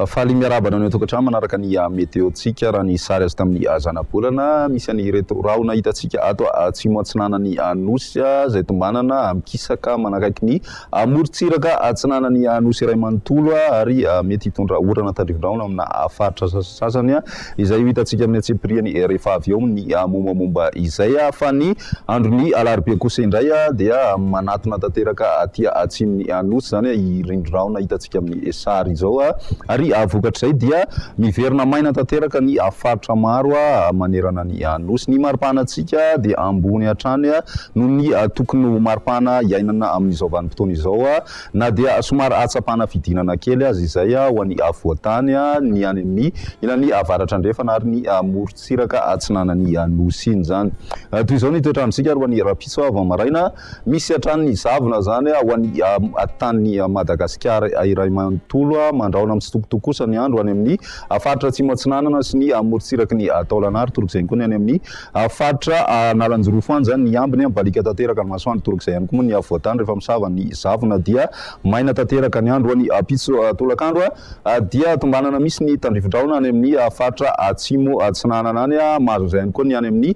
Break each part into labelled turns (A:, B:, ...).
A: Faly miarahaba anao an-tokantrano manaraka ny ah, meteontsika raha ny sary azo tamin'ny ah, zanabolana misy an'ireto rahona hitantsika ato ah, atsimo atsinanan'ny Nosy izay tombanana mikisaka manakaiky ny Amorontsiraka atsinanan'ny Nosy iray manontolo ary mety hitondra orana tandrifin-drahona amina faritra sasasasany izay ho hitantsika amin'ny antsipiriany rehefa avy eo ny mombamomba izay. Fa ny andron'ny alarobia kosa indray dia manatona tanteraka aty atsimon'ny Nosy izany i rindrin-drahona hitantsika amin'ny sary izao ary vokatr'izay dia miverina maina tanteraka ny faritra maro manerana ny ny Anosy. Ny mari-pahanantsika dia ambony hatrany noho ny tokony ho mari-pahana iainana amin'izao vanim-potoana izao, na dia somary ahatsapana fidinana kely aza izay ho an'ny afovoan-tany, ny any amin'ny ilany avaratra-andrefana ary ny morontsiraka atsinanan'ny Anosy iny izany. Toy izao ny toetr'androntsika ary ho an'ny rahampitso vao maraina. Misy hatrany ny zavona izany ho an'ny tanin'i Madagasikara iray manontolo. Mandrahona mitsitokotoko kosa ny andro any amin'ny faritra Atsimo Atsinanana sy ny morontsiraky ny taolana ary torok'izay ihany koa ny any amin'ny faritra Analanjirofo any izany ny ambiny. Mibaliaka tanteraka ny masoandro, torok'izay ihany koa moa ny afovoan-tany rehefa misava ny zavona dia maina tanteraka ny andro any ampitso tolakandro dia tombanana misy ny tandrifin-drahona any amin'ny faritra Atsimo Atsinanana any. Mahazo an'izay ihany koa ny any amin'ny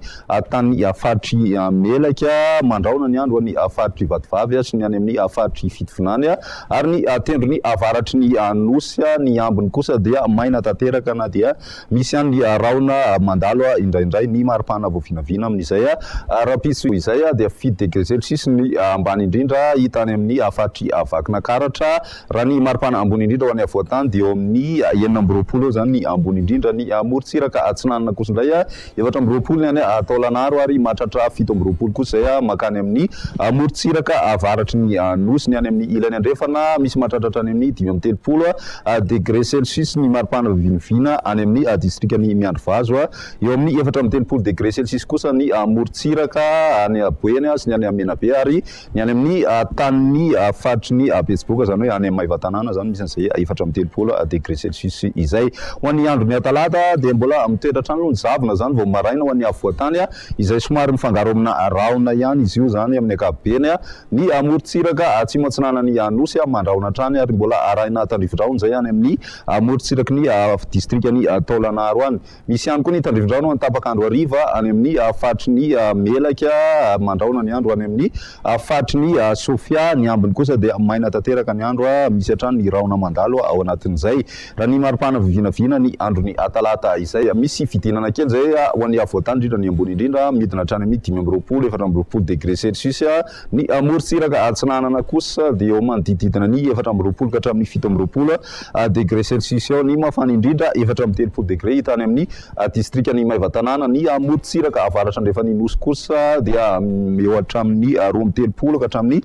A: tany faritr'i Melaky, mandrahona ny andro any faritr'i Vatovavy sy ny any amin'ny faritr'i Fitovinany, ary ny tendrony avaratry ny nosy. Ny ambiny kosa dia maina tanteraka na dia misy ihany ny rahona mandalo indraindray. Ny mari-pana vao vinavina amin'izay rahampitso izay dia fito degré celsius ny ambany indrindra hita any amin'ny faritr'i Vakinankaratra. Raha ny maripana ambony indrindra ho an'ny afovoan-tany dia eo amin'ny enina amby roapolo eo izany ny ambony indrindra ny morontsiraka atsinanana kosa indray efatra amby roapolo ny any Taolagnaro ary mahatratra fito amby roapolo kosa izay mankany amin'ny morontsiraka avaratry ny Nosy. Ny any amin'ny ilany andrefana misy mahatratra hatrany amin'ny dimy amby telopolo degre celsius ny maripana vinivina any amin'ny distrikan'i Miandrivazo. Eo amin'ny efatra amby telopolo degre celsius kosa ny morontsiraka any Boeny sy ny any Menabe ary Ny any amin'ny tanin'ny faritry ny Betsiboka, izany hoe any amin'ny Maevatanàna izany, misy an'izay efatra amby telopolo degré celsius izay. Ho an'ny andron'ny talata dia mbola mitoetra hatrany aloha ny zavona izany vao maraina ho an'ny afovoan-tany izay somary mifangaro amina rahona ihany izy io izany amin'ny ankapobeny. Ny morontsiraka atsimo-atsinanan'ny Nosy mandrahona hatrany ary mbola arahina tandrivo-drahona izay any amin'ny morontsiraky ny distrikan'i Taolagnaro any. Misy ihany koa ny tandrifin-drano any tapaka andro hariva any amin' ny faritry ny Melaka ary mandrahona ny andro any amin' ny faritry ny Sofia. Ny ambiny kosa dia maina tanteraka ny andro, misy hatrany ny rahona mandalo ao anatin' izay. Raha ny mari-pana vinavinana ny andron' ny Talata izay misy fidinana kely izay ho an' ny afovoan-tany indrindra ny ambony indrindra midina hatrany amin' ny dimy amby roapolo, efatra amby roapolo degre celsius. Ny morontsiraka atsinanana kosa dia eo manodididina ny efatra amby roapolo ka hatramin'ny fito amby roapolo degre celsius eo ny mafana indrindra, efatra amby telopolo degre hita any amin'ny distrikan'i Maevatanàna. Ny morontsiraka avaratra andrefan'ny Nosy kosa dia eo hatramin'ny roa amby telopolo ka hatramin'ny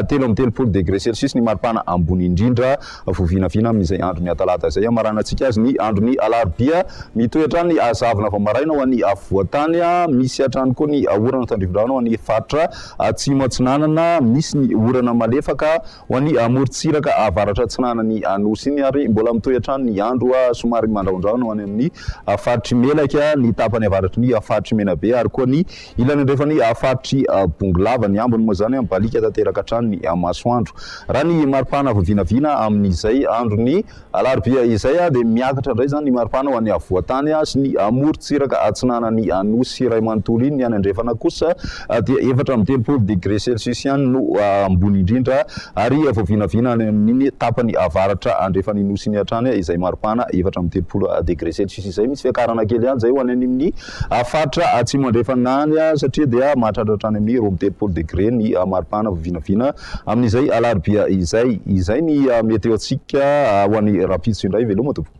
A: telo amby telopolo degre celsius ny maripana ambony indrindra. Vao vinavina amin'izay andro ny Atalata izay hamaranantsika azy ny andro ny Alarobia. Mitohy hatrany ny hazavana vao maraina ho an'ny afovoan-tany. Misy hatrany koa ny orana tandrivindrano ho an'ny faritra atsimo atsinanana. Misy ny orana malefaka ho an'ny amorontsiraka avaratra atsinanan'ny Anosy iny ary mbola mitohy hatrany ny andro somary mandrahondrahona ho any amin'ny faritr'i Melaky, ny tapany avaratry ny faritr'i Menabe ary koa ny Ilany andrefan' ny faritr' i Bongolava, ny ambiny moa izany mibaliaka tanteraka hatrany ny masoandro. Raha ny maripana avy vinavina amin' izay andron' ny alarobia izay dia miakatra indray izany ny maripana ho any afovoan-tany sy ny morontsiraka atsinanan' ny nosy iray manontolo iny. Ny any andrefana kosa dia efatra amby telopolo degre selsiosy ihany no ambony indrindra ary vao vinavina any amin' iny tapany avaratra andrefan' iny nosy iny hatrany izay maripana efatra amby telopolo degre selsiosy izay. Misy fiakarana kely ihany izay ho any amin' ny A faritra Atsimo Andrefana any satria dia mahatratra hatrany amin'ny roa amby telopolo degre ny maripana vao vinavina amin'izay alarobia izay. Izay ny meteontsika ho an'ny rahampitso indray. Veloma tompoko.